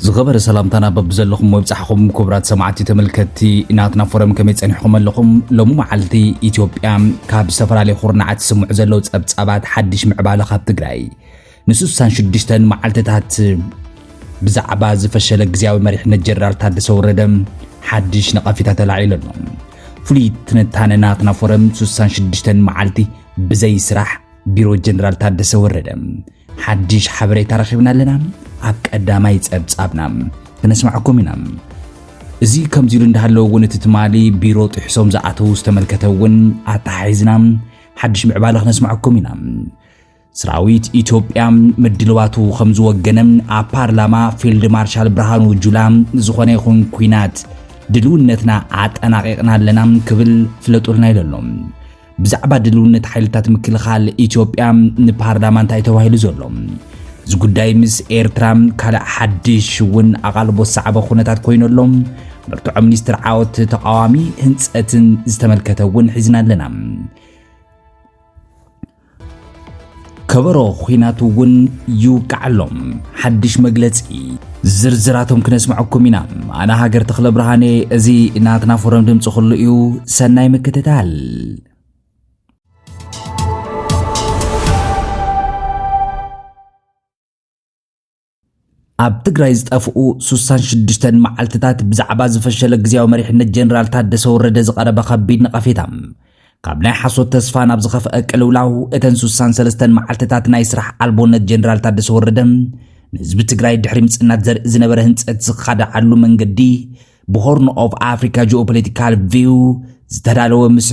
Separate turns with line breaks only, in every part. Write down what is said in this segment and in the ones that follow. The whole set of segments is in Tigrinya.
ዝኸበረ ሰላምታና በብዘለኹም ወብፃሕኹም ክቡራት ሰማዕቲ ተመልከትቲ ናትና ፎረም ከመይ ፀኒሕኹም ኣለኹም ሎሚ መዓልቲ ኢትዮጵያ ካብ ዝተፈላለዩ ኩርናዓት ዝስምዑ ዘለዉ ፀብፃባት ሓድሽ ምዕባለ ካብ ትግራይ ንስሳን ሽዱሽተን መዓልትታት ብዛዕባ ዝፈሸለ ግዜያዊ መሪሕነት ጀነራል ታደሰ ወረደ ሓድሽ ነቐፊታ ተላዒሉ ኣሎ። ፍሉይ ትንታነ ናትና ፎረም ስሳን ሽዱሽተን መዓልቲ ብዘይ ስራሕ ቢሮ ጀነራል ታደሰ ወረደ ሓድሽ ሓበሬታ ረኺብና ኣለና። ኣብ ቀዳማይ ጸብጻብና ክነስማዕኩም ኢና። እዚ ከምዚ ኢሉ እንዳሃለወ እውን እቲ ትማሊ ቢሮ ጥሕሶም ዝኣተዉ ዝተመልከተ እውን ኣተሓሒዝና ሓድሽ ምዕባለ ክነስማዕኩም ኢና። ስራዊት ኢትዮጵያ ምድልዋቱ ከም ዝወገነ ኣብ ፓርላማ ፊልድ ማርሻል ብርሃኑ ጁላ ንዝኾነ ይኹን ኩናት ድልውነትና ኣጠናቂቕና ኣለና ክብል ፍለጡልና ኢሉ ኣሎ። ብዛዕባ ድልውነት ሓይልታት ምክልኻል ኢትዮጵያ ንፓርላማ እንታይ ተባሂሉ ዘሎ እዚ ጉዳይ ምስ ኤርትራ ካልእ ሓድሽ እውን ኣቓልቦ ዝሰዓበ ኩነታት ኮይኑ ኣሎ። ብርትዖ ሚኒስትር ዓወት ተቃዋሚ ህንፀትን ዝተመልከተ እውን ሒዝና ኣለና። ከበሮ ኹናት እውን ይውቃዓሎም። ሓድሽ መግለጺ ዝርዝራቶም ክነስምዐኩም ኢና። ኣነ ሃገር ተኽለ ብርሃኔ፣ እዚ ናትና ፎረም ድምፂ ኩሉ እዩ። ሰናይ ምክትታል። ኣብ ትግራይ ዝጠፍኡ ስሳን ሽዱሽተን መዓልትታት ብዛዕባ ዝፈሸለ ግዜያዊ መሪሕነት ጀነራል ታደሰ ወረደ ዝቐረበ ከቢድ ነቐፌታ ካብ ናይ ሓሶት ተስፋ ናብ ዝኸፍአ ቅልውላው እተን ስሳን ሰለስተን መዓልትታት ናይ ስራሕ ኣልቦነት ጀነራል ታደሰ ወረደ ንህዝቢ ትግራይ ድሕሪ ምጽናት ዘርኢ ዝነበረ ህንጸት ዝኻደዓሉ መንገዲ ብሆርን ኦፍ ኣፍሪካ ጂኦፖለቲካል ቪው ዝተዳለወ ምስ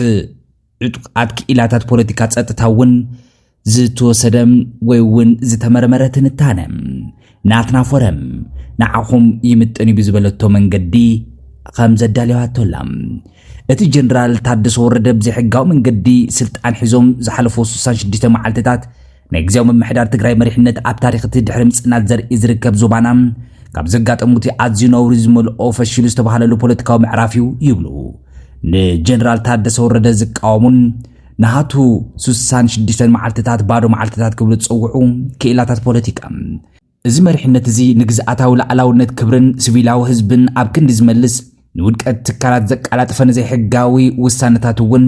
ዕጡቃት ክኢላታት ፖለቲካ ጸጥታ እውን ዝተወሰደ ወይ እውን ዝተመርመረ ትንታነ ናትና ፎረም ንዓኹም ይምጥን እዩ ብዝበለቶ መንገዲ ከም ዘዳለዋቶላ እቲ ጀነራል ታደሰ ወረደ ብዘይሕጋዊ መንገዲ ስልጣን ሒዞም ዝሓለፉ 66 መዓልትታት ናይ ግዜያዊ ምምሕዳር ትግራይ መሪሕነት ኣብ ታሪክ እቲ ድሕሪ ምፅናት ዘርኢ ዝርከብ ዞባና ካብ ዘጋጠሙ እቲ ኣዝዩ ነውሪ ዝመልኦ ፈሽሉ ዝተባሃለሉ ፖለቲካዊ ምዕራፍ እዩ ይብሉ ንጀነራል ታደሰ ወረደ ዝቃወሙን ናሃቱ ሱሳን ሽዱሽተን መዓልትታት ባዶ መዓልትታት ክብሉ ዝጸውዑ ክኢላታት ፖለቲካ እዚ መሪሕነት እዚ ንግዝኣታዊ ላዕላውነት ክብርን ስቪላዊ ህዝብን ኣብ ክንዲ ዝመልስ ንውድቀት ትካላት ዘቃላጥፈ ንዘይሕጋዊ ውሳነታት እውን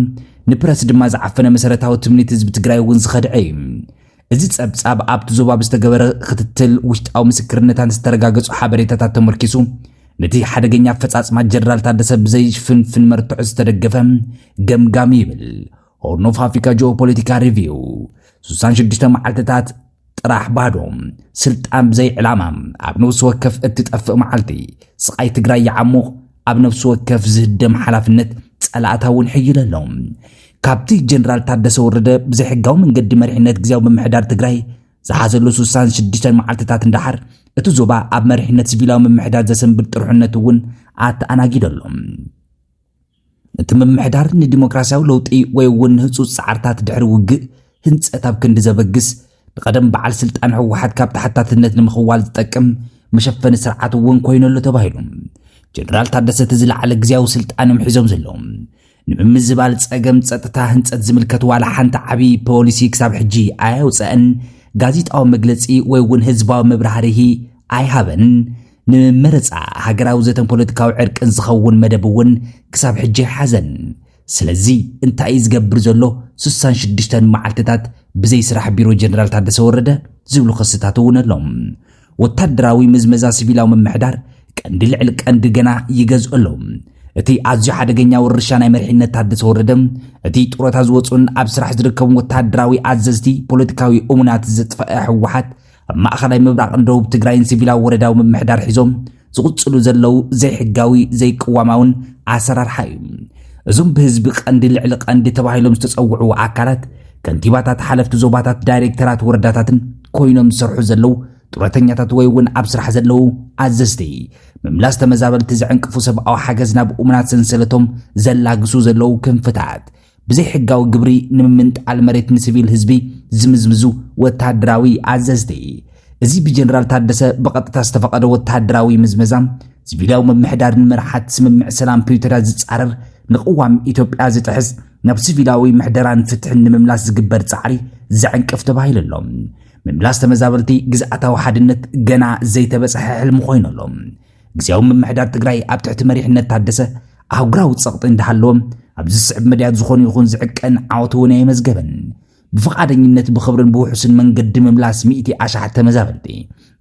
ንፕረስ ድማ ዝዓፈነ መሰረታዊ ትምኒት ህዝቢ ትግራይ እውን ዝኸድዐ እዩ። እዚ ጸብጻብ ኣብቲ ዞባ ብዝተገበረ ክትትል ውሽጣዊ ምስክርነታት ዝተረጋገጹ ሓበሬታታት ተመርኪሱ ነቲ ሓደገኛ ኣፈጻጽማ ጀነራል ታደሰ ብዘይፍንፍን መርትዖ ዝተደገፈ ገምጋም ይብል ሆርን ኦፍ ኣፍሪካ ጂኦፖለቲካ ሪቪው 66 መዓልትታት ጥራሕ ባዶ ስልጣን ብዘይ ዕላማ ኣብ ነውሲ ወከፍ እትጠፍእ መዓልቲ ስቓይ ትግራይ ይዓሙቕ ኣብ ነፍሲ ወከፍ ዝህደም ሓላፍነት ጸላእታ እውን ሕይለ ኣሎ። ካብቲ ጀነራል ታደሰ ወረደ ብዘይሕጋዊ መንገዲ መሪሕነት ግዜያዊ ምምሕዳር ትግራይ ዝሓዘሉ 66 መዓልትታት እንዳሓር እቲ ዞባ ኣብ መሪሕነት ሲቪላዊ ምምሕዳር ዘሰንብድ ጥርሑነት እውን ኣተኣናጊዶ ኣሎ። እቲ ምምሕዳር ንዲሞክራሲያዊ ለውጢ ወይ እውን ንህፁፅ ፃዕርታት ድሕሪ ውግእ ህንፀት ኣብ ክንዲ ዘበግስ ንቐደም በዓል ስልጣን ህወሓት ካብ ተሓታትነት ንምኽዋል ዝጠቅም መሸፈኒ ስርዓት እውን ኮይኑ ኣሎ ተባሂሉ ጀነራል ታደሰ እቲ ዝለዓለ ግዜያዊ ስልጣን እዮም ሒዞም ዘለዉ ንምምዝባል ጸገም ጸጥታ ህንጸት ዝምልከት ዋላ ሓንቲ ዓብዪ ፖሊሲ ክሳብ ሕጂ ኣየውፀአን ጋዜጣዊ መግለፂ ወይ እውን ህዝባዊ መብራህርሂ ኣይሃበን ንመረፃ ሃገራዊ ዘተን ፖለቲካዊ ዕርቅን ዝኸውን መደብ እውን ክሳብ ሕጂ ኣይሓዘን ስለዚ እንታይ እዩ ዝገብር ዘሎ? ስሳን ሽዱሽተን መዓልትታት ብዘይ ስራሕ ቢሮ ጀነራል ታደሰ ወረደ ዝብሉ ክስታት እውን ኣሎ። ወታደራዊ ምዝመዛ ሲቪላዊ ምምሕዳር ቀንዲ ልዕሊ ቀንዲ ገና ይገዝኦ ኣሎ። እቲ ኣዝዩ ሓደገኛ ውርሻ ናይ መሪሕነት ታደሰ ወረደ እቲ ጡረታ ዝወፁን ኣብ ስራሕ ዝርከቡ ወታደራዊ ኣዘዝቲ ፖለቲካዊ እሙናት ዘጥፈአ ህወሓት ኣብ ማእኸላይ ምብራቕን ደቡብ ትግራይን ሲቪላዊ ወረዳዊ ምምሕዳር ሒዞም ዝቕፅሉ ዘለው ዘይሕጋዊ ዘይቅዋማውን ኣሰራርሓ እዩ እዞም ብህዝቢ ቀንዲ ልዕሊ ቀንዲ ተባሂሎም ዝተፀውዑ ኣካላት ከንቲባታት ሓለፍቲ ዞባታት ዳይሬክተራት ወረዳታትን ኮይኖም ዝሰርሑ ዘለው ጡረተኛታት ወይ እውን ኣብ ስራሕ ዘለው ኣዘዝቲ ምምላስ ተመዛበልቲ ዘዕንቅፉ ሰብኣዊ ሓገዝ ናብ እሙናት ሰንሰለቶም ዘላግሱ ዘለው ክንፍታት ብዘይሕጋዊ ግብሪ ንምምንጣል መሬት ንስቪል ህዝቢ ዝምዝምዙ ወተሃደራዊ ኣዘዝቲ። እዚ ብጀነራል ታደሰ ብቐጥታ ዝተፈቐደ ወተሃደራዊ ምዝመዛ ሲቪላዊ ምምሕዳር ንምርሓት ስምምዕ ሰላም ፕሪቶርያ ዝጻረር ንቅዋም ኢትዮጵያ ዝጥሕስ ናብ ሲቪላዊ ምሕደራን ፍትሕን ንምምላስ ዝግበር ጻዕሪ ዘዕንቅፍ ተባሂሉ ኣሎ ምምላስ ተመዛበልቲ ግዝኣታዊ ሓድነት ገና ዘይተበጽሐ ሕልሚ ኮይኑ ኣሎ ግዜያዊ ምምሕዳር ትግራይ ኣብ ትሕቲ መሪሕነት ታደሰ ኣህጉራዊ ጸቕጢ እንዳሃለዎም ኣብ ዝስዕብ መድያት ዝኾኑ ይኹን ዝዕቀን ዓወት እውን ኣየመዝገበን። ብፍቓደኝነት ብኽብርን ብውሑስን መንገዲ ምምላስ ሚእቲ ኣሽሓት ተመዛበልቲ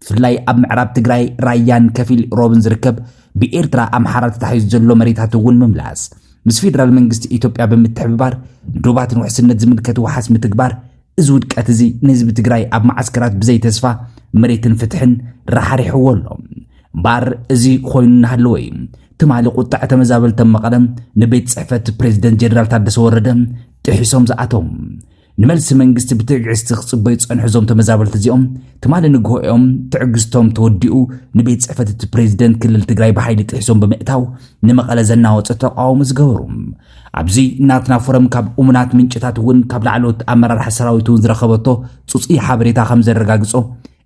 ብፍላይ ኣብ ምዕራብ ትግራይ ራያን ከፊል ሮብን ዝርከብ ብኤርትራ ኣምሓራ ተታሒዙ ዘሎ መሬታት እውን ምምላስ ምስ ፌደራል መንግስቲ ኢትዮጵያ ብምትሕብባር ንዶባትን ውሕስነት ዝምልከት ውሓስ ምትግባር እዚ ውድቀት እዚ ንህዝቢ ትግራይ ኣብ መዓስከራት ብዘይ ተስፋ መሬትን ፍትሕን ራሕሪሕዎ ኣሎ እምበኣር እዚ ኮይኑ እናሃለወ እዩ ትማሊ ቁጣዕ ተመዛበልተን መቐለ ንቤት ጽሕፈት ፕሬዚደንት ጀነራል ታደሰ ወረደ ጥሒሶም ዝኣተው ንመልሲ መንግስቲ ብትዕግስቲ ክጽበዩ ጸንሑ እዞም ተመዛበልቲ እዚኦም ትማሊ ንግሆ እዮም ትዕግስቶም ተወዲኡ ንቤት ጽሕፈት እቲ ፕሬዚደንት ክልል ትግራይ ብሓይሊ ጥሒሶም ብምእታው ንመቐለ ዘናወፀ ተቃውሞ ዝገበሩ ኣብዚ ናትና ፎረም ካብ እሙናት ምንጭታት እውን ካብ ላዕለዎት ኣመራርሓ ሰራዊት እውን ዝረኸበቶ ፅፁይ ሓበሬታ ከም ዘረጋግፆ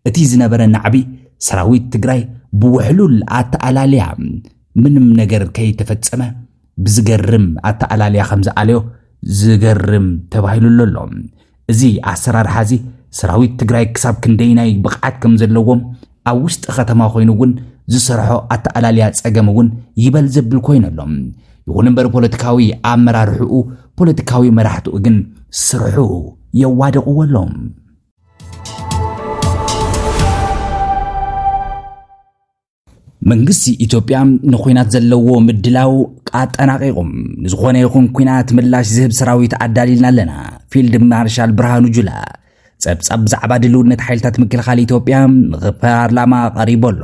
እቲ ዝነበረ ናዕቢ ሰራዊት ትግራይ ብውሕሉል ኣተኣላልያ ምንም ነገር ከይተፈፀመ ብዝገርም ኣተኣላልያ ከም ዝኣለዮ ዝገርም ተባሂሉሎ ኣሎ። እዚ ኣሰራርሓ እዚ ሰራዊት ትግራይ ክሳብ ክንደይናይ ብቕዓት ከም ዘለዎም ኣብ ውሽጢ ከተማ ኮይኑ እውን ዝሰርሖ ኣተኣላልያ ጸገም እውን ይበል ዘብል ኮይኑ ኣሎ። ይኹን እምበር ፖለቲካዊ ኣመራርሕኡ ፖለቲካዊ መራሕትኡ ግን ስርሑ የዋደቕዎ ኣሎም። መንግስቲ ኢትዮጵያ ንኩናት ዘለዎ ምድላው ኣጠናቂቑ ንዝኾነ ይኹን ኩናት ምላሽ ዝህብ ሰራዊት ኣዳሊልና ኣለና ፊልድ ማርሻል ብርሃኑ ጁላ ጸብጻብ ብዛዕባ ድልውነት ሓይልታት ምክልኻል ኢትዮጵያ ንፓርላማ ቀሪቡ ኣሎ።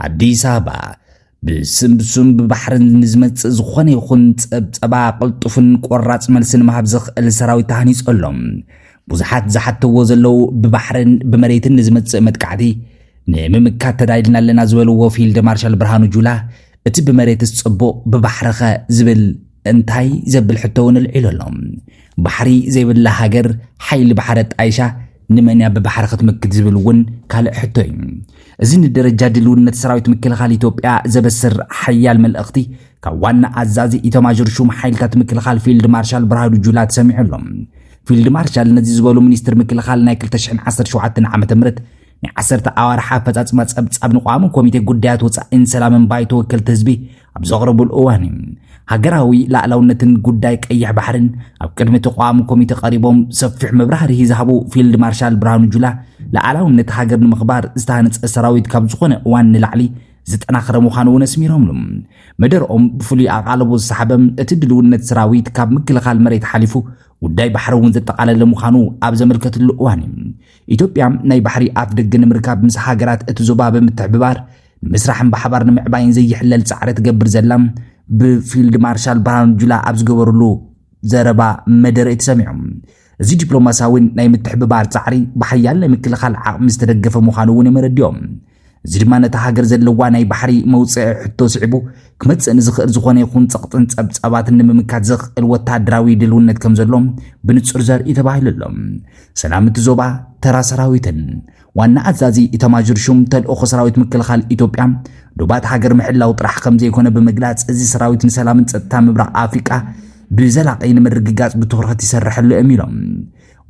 ኣዲስ ኣበባ ብስምሱም ብባሕርን ንዝመጽእ ዝኾነ ይኹን ጸብጸባ ቅልጡፍን ቆራጽ መልሲ ንምሃብ ዘኽእል ሰራዊት ተሃኒጹ ኣሎ። ብዙሓት ዝሓተዎ ዘለዉ ብባሕርን ብመሬትን ንዝመጽእ መጥቃዕቲ ንምምካት ተዳይልና ኣለና ዝበልዎ ፊልድ ማርሻል ብርሃኑ ጁላ እቲ ብመሬትስ ጽቡቕ ብባሕርኸ ዝብል እንታይ ዘብል ሕቶ እውን ኣልዒሉ ኣሎ። ባሕሪ ዘይብላ ሃገር ሓይሊ ባሕሪ ኣጣይሻ ንመን እያ ብባሕሪ ክትምክት ዝብል እውን ካልእ ሕቶ እዩ። እዚ ንደረጃ ድልውነት ሰራዊት ምክልኻል ኢትዮጵያ ዘበስር ሓያል መልእኽቲ ካብ ዋና ኣዛዚ ኢተማዦር ሹም ሓይልታት ምክልኻል ፊልድ ማርሻል ብርሃኑ ጁላ ተሰሚዑ ኣሎ። ፊልድ ማርሻል ነዚ ዝበሉ ሚኒስትር ምክልኻል ናይ 2017 ዓ ም ናይ ዓሰርተ ኣዋርሕ ኣፈጻጽማ ጸብጻብ ንቋሚ ኮሚቴ ጉዳያት ወጻኢን ሰላምን ባይቶ ወከልቲ ህዝቢ ኣብ ዘቕረቡሉ እዋን እዩ። ሃገራዊ ላእላውነትን ጉዳይ ቀይሕ ባሕርን ኣብ ቅድሚ ተቋሙ ኮሚቴ ቀሪቦም ሰፊሕ መብራህርሂ ዝሃቡ ፊልድ ማርሻል ብርሃኑ ጁላ ላእላውነት ሃገር ንምኽባር ዝተሃነፀ ሰራዊት ካብ ዝኾነ እዋን ንላዕሊ ዝጠናኸረ ምዃኑ እውን ኣስሚሮምሉ መደርኦም ብፍሉይ ኣቓልቦ ዝሰሓበም እቲ ድልውነት ሰራዊት ካብ ምክልኻል መሬት ሓሊፉ ጉዳይ ባሕሪ እውን ዘጠቓለለ ምዃኑ ኣብ ዘመልከትሉ እዋን እዩ ኢትዮጵያ ናይ ባሕሪ ኣፍ ደገ ንምርካብ ምስ ሃገራት እቲ ዞባ ብምትሕብባር ንምስራሕን ብሓባር ንምዕባይን ዘይሕለል ጻዕሪ ትገብር ዘላ ብፊልድ ማርሻል ብርሃኑ ጁላ ኣብ ዝገበርሉ ዘረባ መደረ እዩ ተሰሚዑ። እዚ ዲፕሎማሲያዊን ናይ ምትሕብባር ጻዕሪ ብሓያል ናይ ምክልኻል ዓቕሚ ዝተደገፈ ምዃኑ እውን እዮም ኣረዲኦም። እዚ ድማ ነታ ሃገር ዘለዋ ናይ ባሕሪ መውፅዒ ሕቶ ስዒቡ ክመፅእ ንዝኽእል ዝኾነ ይኹን ፀቕጥን ፀብፃባትን ንምምካት ዘኽእል ወታደራዊ ድልውነት ከም ዘሎ ብንፁር ዘርኢ ተባሂሉ ኣሎ። ሰላም እቲ ዞባ ተራ ሰራዊትን ዋና ኣዛዚ ኢታማዦር ሹም ተልእኾ ሰራዊት ምክልኻል ኢትዮጵያ ዶባት ሃገር ምሕላው ጥራሕ ከም ዘይኮነ ብምግላጽ እዚ ሰራዊት ንሰላምን ጸጥታ ምብራቕ ኣፍሪቃ ብዘላቒ ንምርግጋጽ ብትኹረት ይሰርሐሉ እዮም ኢሎም።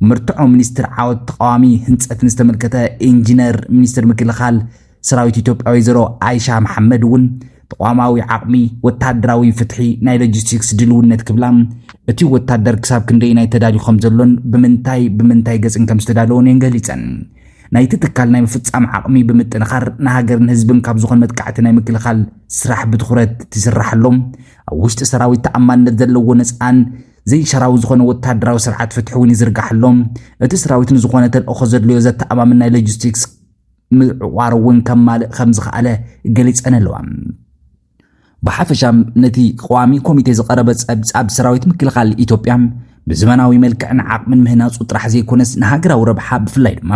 መርትዖ ሚኒስትር ዓወት ተቃዋሚ ህንፀትን ዝተመልከተ ኢንጂነር ሚኒስትር ምክልኻል ሰራዊት ኢትዮጵያ ወይዘሮ ኣይሻ መሓመድ እውን ተቋማዊ ዓቕሚ፣ ወታደራዊ ፍትሒ፣ ናይ ሎጂስቲክስ ድልውነት ክብላ እቲ ወታደር ክሳብ ክንደይ ናይ ተዳልዩ ከም ዘሎን ብምንታይ ብምንታይ ገፅን ከም ዝተዳለወን እየን ገሊፀን። ናይቲ ትካል ናይ ምፍፃም ዓቕሚ ብምጥንኻር ንሃገርን ህዝብን ካብ ዝኾነ መጥቃዕቲ ናይ ምክልኻል ስራሕ ብትኹረት ትስራሕሎም ኣብ ውሽጢ ሰራዊት ተኣማንነት ዘለዎ ነፃን ዘይሻራዊ ዝኾነ ወተሃደራዊ ስርዓት ፍትሒ እውን ይዝርጋሕሎም። እቲ ስራዊት ንዝኾነ ተልእኾ ዘድልዮ ዘተኣማምን ናይ ሎጂስቲክስ ምዕቋር እውን ከማልእ ከም ዝኸኣለ ገሊጸን ኣለዋ። ብሓፈሻ ነቲ ቀዋሚ ኮሚቴ ዝቐረበ ጸብጻብ ሰራዊት ምክልኻል ኢትዮጵያ ብዘመናዊ መልክዕን ዓቕምን ምህናጹ ጥራሕ ዘይኮነስ ንሃገራዊ ረብሓ ብፍላይ ድማ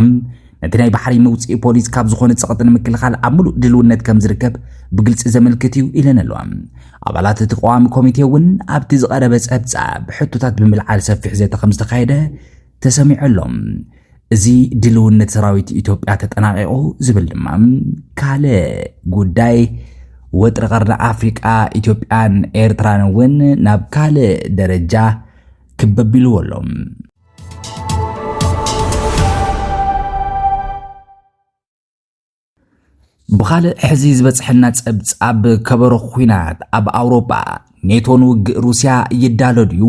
ነቲ ናይ ባሕሪ መውፅኢ ፖሊስ ካብ ዝኾነ ፀቕጢ ንምክልኻል ኣብ ምሉእ ድልውነት ከም ዝርከብ ብግልፂ ዘመልክት እዩ ኢለን ኣለዋ። ኣባላት እቲ ቀዋሚ ኮሚቴ እውን ኣብቲ ዝቐረበ ጸብጻብ ሕቶታት ብምልዓል ሰፊሕ ዘተ ከም ዝተኻየደ ተሰሚዑ ኣሎ። እዚ ድልውነት ሰራዊት ኢትዮጵያ ተጠናቂቑ ዝብል ድማ ካልእ ጉዳይ ወጥሪ ቀርኒ ኣፍሪቃ ኢትዮጵያን ኤርትራን እውን ናብ ካልእ ደረጃ ክበቢልዎ ኣሎ። ብኻልእ ሕዚ ዝበፅሐና ፀብፃብ ከበሮ ኩናት ኣብ ኣውሮጳ ኔቶ ንውግእ ሩስያ ይዳሎ ድዩ?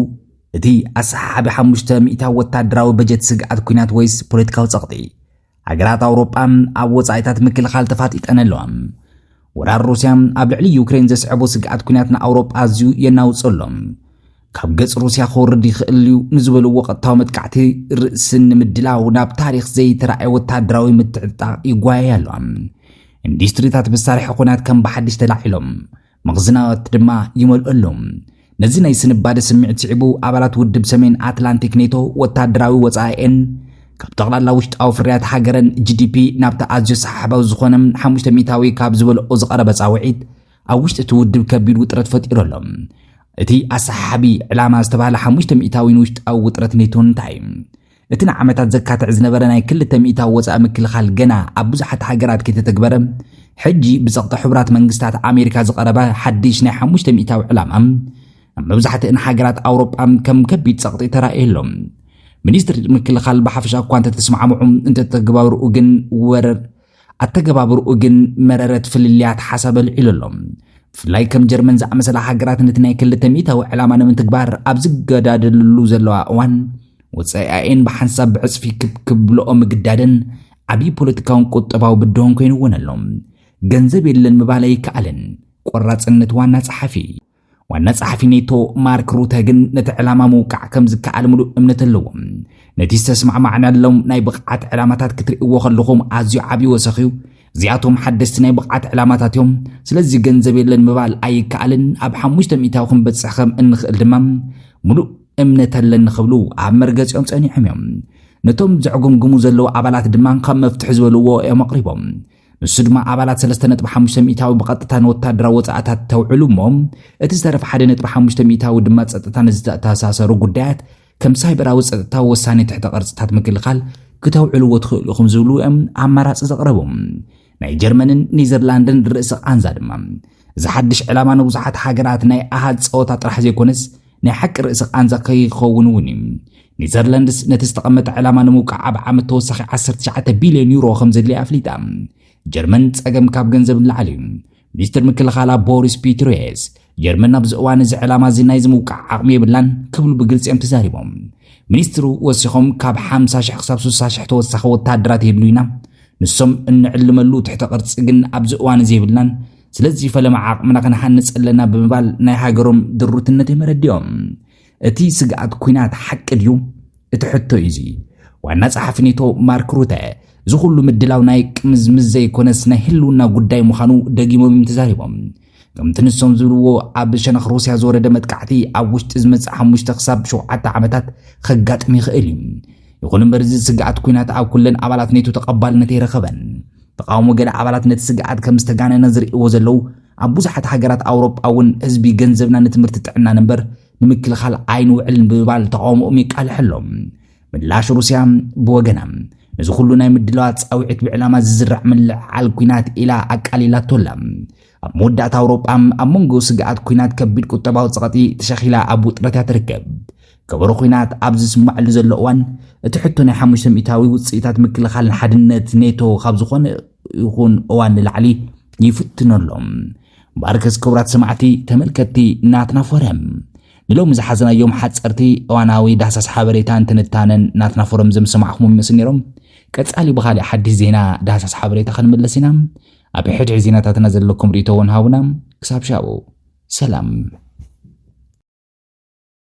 እቲ ኣሰሓሓቢ ሓሙሽተ ሚእታ ወታደራዊ በጀት ስግኣት ኩናት ወይስ ፖለቲካዊ ፀቕጢ? ሃገራት ኣውሮጳ ኣብ ወጻኢታት ምክልኻል ተፋጢጠን ኣለዋ። ወራር ሩስያ ኣብ ልዕሊ ዩክሬን ዘስዐቦ ስግኣት ኩናት ንኣውሮጳ ኣዝዩ የናውጾ ኣሎ። ካብ ገጽ ሩስያ ክወርድ ይኽእል እዩ ንዝበልዎ ቀጥታዊ መጥቃዕቲ ርእሲ ንምድላው ናብ ታሪኽ ዘይተራእየ ወተሃደራዊ ምትዕጥጣቕ ይጓየያ ኣሎ። ኢንዱስትሪታት መሳርሒ ኩናት ከም ብሓድሽ ተላዒሎም መኽዝናት ድማ ይመልኡ ኣለዉ። ነዚ ናይ ስንባደ ስምዒት ስዒቡ ኣባላት ውድብ ሰሜን ኣትላንቲክ ኔቶ ወታደራዊ ወጻኢኤን ካብ ጠቕላላ ውሽጣዊ ፍርያት ሃገረን ጂዲፒ ናብቲ ኣዝዩ ሰሓሓባዊ ዝኾነ ሓሙሽተ ሚእታዊ ካብ ዝበልኦ ዝቐረበ ጻውዒት ኣብ ውሽጢ እቲ ውድብ ከቢድ ውጥረት ፈጢሩ ኣሎ። እቲ ኣሰሓሓቢ ዕላማ ዝተባህለ ሓሙሽተ ሚእታዊ ንውሽጣዊ ውጥረት ኔቶ እንታይ እዩ? እቲ ንዓመታት ዘካትዕ ዝነበረ ናይ ክልተ ሚእታዊ ወጻኢ ምክልኻል ገና ኣብ ብዙሓት ሃገራት ከይተተግበረ፣ ሕጂ ብጸቕጢ ሕቡራት መንግስታት ኣሜሪካ ዝቐረበ ሓድሽ ናይ ሓሙሽተ ሚእታዊ ዕላማ፣ ኣብ መብዛሕትእን ሃገራት ኣውሮጳ ከም ከቢድ ጸቕጢ ተራእዩ ኣሎ። ሚኒስትሪ ምክልኻል ብሓፈሻ እኳ እንተተስማዕምዑ፣ እንተተግባብርኡ ግን ወረር ኣተገባብርኡ ግን መረረት ፍልልያት ሓሳብ ኣልዒሉ ኣሎ። ብፍላይ ከም ጀርመን ዝኣመሰላ ሃገራት ነቲ ናይ ክልተ ሚእታዊ ዕላማ ንምትግባር ኣብ ዝገዳደልሉ ዘለዋ እዋን ወጻኢኣኤን ብሓንሳብ ብዕጽፊ ክብ ክብልኦ ምግዳደን ዓብዪ ፖለቲካውን ቁጠባዊ ብድሆን ኮይኑወን ኣሎ። ገንዘብ የለን ምባል ኣይከኣልን። ቆራጽነት ዋና ጸሓፊ። ዋና ጸሓፊ ኔቶ ማርክ ሩተ ግን ነቲ ዕላማ ምውቃዕ ከም ዝከኣል ምሉእ እምነት ኣለዎም ነቲ ዝተስማዕማዕናሎም ናይ ብቕዓት ዕላማታት ክትርእይዎ ከለኹም ኣዝዩ ዓብዪ ወሰኽ እዩ እዚኣቶም ሓደስቲ ናይ ብቕዓት ዕላማታት እዮም ስለዚ ገንዘብ የለን ምባል ኣይከኣልን ኣብ ሓሙሽተ ሚእታዊ ክንበጽሕ ከም እንኽእል ድማ ምሉእ እምነት ኣለኒ ክብሉ ኣብ መርገጺኦም ጸኒሖም እዮም ነቶም ዘዕጉምግሙ ዘለዉ ኣባላት ድማ ካብ መፍትሒ ዝበልዎ እዮም ኣቕሪቦም ንሱ ድማ ኣባላት 3.5 ሚእታዊ ብቐጥታ ንወታደራዊ ወፃእታት ተውዕሉ እሞ እቲ ዝተረፈ 1.5 ሚእታዊ ድማ ፀጥታ ንዝተኣተሳሰሩ ጉዳያት ከም ሳይበራዊ ፀጥታዊ ወሳኔ ትሕተ ቅርፅታት ምክልኻል ክተውዕልዎ ትኽእሉ ኢኹም ዝብሉ እዮም ኣማራፂ ዘቕረቡ ናይ ጀርመንን ኔዘርላንድን ርእሲ ቃንዛ ድማ እዚ ሓድሽ ዕላማ ንብዙሓት ሃገራት ናይ ኣሃዝ ፀወታ ጥራሕ ዘይኮነስ ናይ ሓቂ ርእሲ ቃንዛ ከይኸውን እውን እዩ። ኔዘርላንድስ ነቲ ዝተቐመጠ ዕላማ ንምውቃዕ ኣብ ዓመት ተወሳኺ ዓሰርተ ትሽዓተ ቢልዮን ዩሮ ከም ዘድልያ ኣፍሊጣ። ጀርመን ጸገም ካብ ገንዘብ ንላዕሊ እዩ። ሚኒስትር ምክልኻላ ቦሪስ ፒትሪየስ፣ ጀርመን ኣብዚ እዋን እዚ ዕላማ እዚ ናይዚ ምውቃዕ ዓቕሚ የብላን ክብሉ ብግልጺ እዮም ተዛሪቦም። ሚኒስትሩ ወሲኾም ካብ ሓምሳ ሽሕ ክሳብ ስሳ ሽሕ ተወሳኺ ወተሃደራት የድልዩና፣ ንሶም እንዕልመሉ ትሕተ ቅርጺ ግን ኣብዚ እዋን እዚ የብልናን፣ ስለዚ ፈለማ ዓቕምና ክንሃንፅ ኣለና ብምባል ናይ ሃገሮም ድሩትነት እዮም ኣረዲኦም እቲ ስግኣት ኩናት ሓቂ ድዩ እቲ ሕቶ እዩ እዚ ዋና ጸሓፊ ኔቶ ማርክ ሩተ እዚ ኩሉ ምድላው ናይ ቅምዝምዝ ዘይኮነስ ናይ ህልውና ጉዳይ ምዃኑ ደጊሞም እዮም ተዛሪቦም ከምቲ ንሶም ዝብልዎ ኣብ ሸነኽ ሩስያ ዝወረደ መጥቃዕቲ ኣብ ውሽጢ ዝመፅእ ሓሙሽተ ክሳብ ሸውዓተ ዓመታት ከጋጥም ይኽእል እዩ ይኹን እምበር እዚ ስግኣት ኩናት ኣብ ኩለን ኣባላት ኔቶ ተቐባልነት ኣይረኸበን ተቓውሞ ገለ ኣባላት ነቲ ስግኣት ከም ዝተጋነነ ዝርእይዎ ዘለዉ ኣብ ብዙሓት ሃገራት ኣውሮጳ እውን ህዝቢ ገንዘብና ንትምህርቲ ጥዕናን እምበር ንምክልኻል ኣይንውዕልን ብምባል ተቓውሞኦም የቃልሕ ኣሎ ምላሽ ሩስያ ብወገና ነዚ ኩሉ ናይ ምድላዋት ጻውዒት ብዕላማ ዝዝራዕ ምልዕዓል ኩናት ኢላ ኣቃሊላቶ ኣላ ኣብ መወዳእታ ኣውሮጳ ኣብ መንጎ ስግኣት ኩናት ከቢድ ቁጠባዊ ጸቕጢ ተሸኺላ ኣብ ውጥረት እያ ትርከብ ከበሮ ኲናት ኣብ ዝስማዕሉ ዘሎ እዋን እቲ ሕቶ ናይ ሓሙሽተ ሚእታዊ ውፅኢታት ምክልኻልን ሓድነት ኔቶ ካብ ዝኾነ ይኹን እዋን ንላዕሊ ይፍትኖ ኣሎ። ባርከስ ክቡራት ሰማዕቲ ተመልከትቲ ናትና ፎረም ንሎሚ ዝሓዘናዮም ሓፀርቲ እዋናዊ ዳህሳስ ሓበሬታን ትንታነን ናትና ፎረም ዘም ሰማዕኹም ይመስል ነይሮም። ቀፃሊ ብኻሊእ ሓድሽ ዜና ዳህሳስ ሓበሬታ ክንምለስ ኢና። ኣብ ሕድሒ ዜናታትና ዘለኩም ርእቶ እውን ሃቡና። ክሳብ ሻቡ ሰላም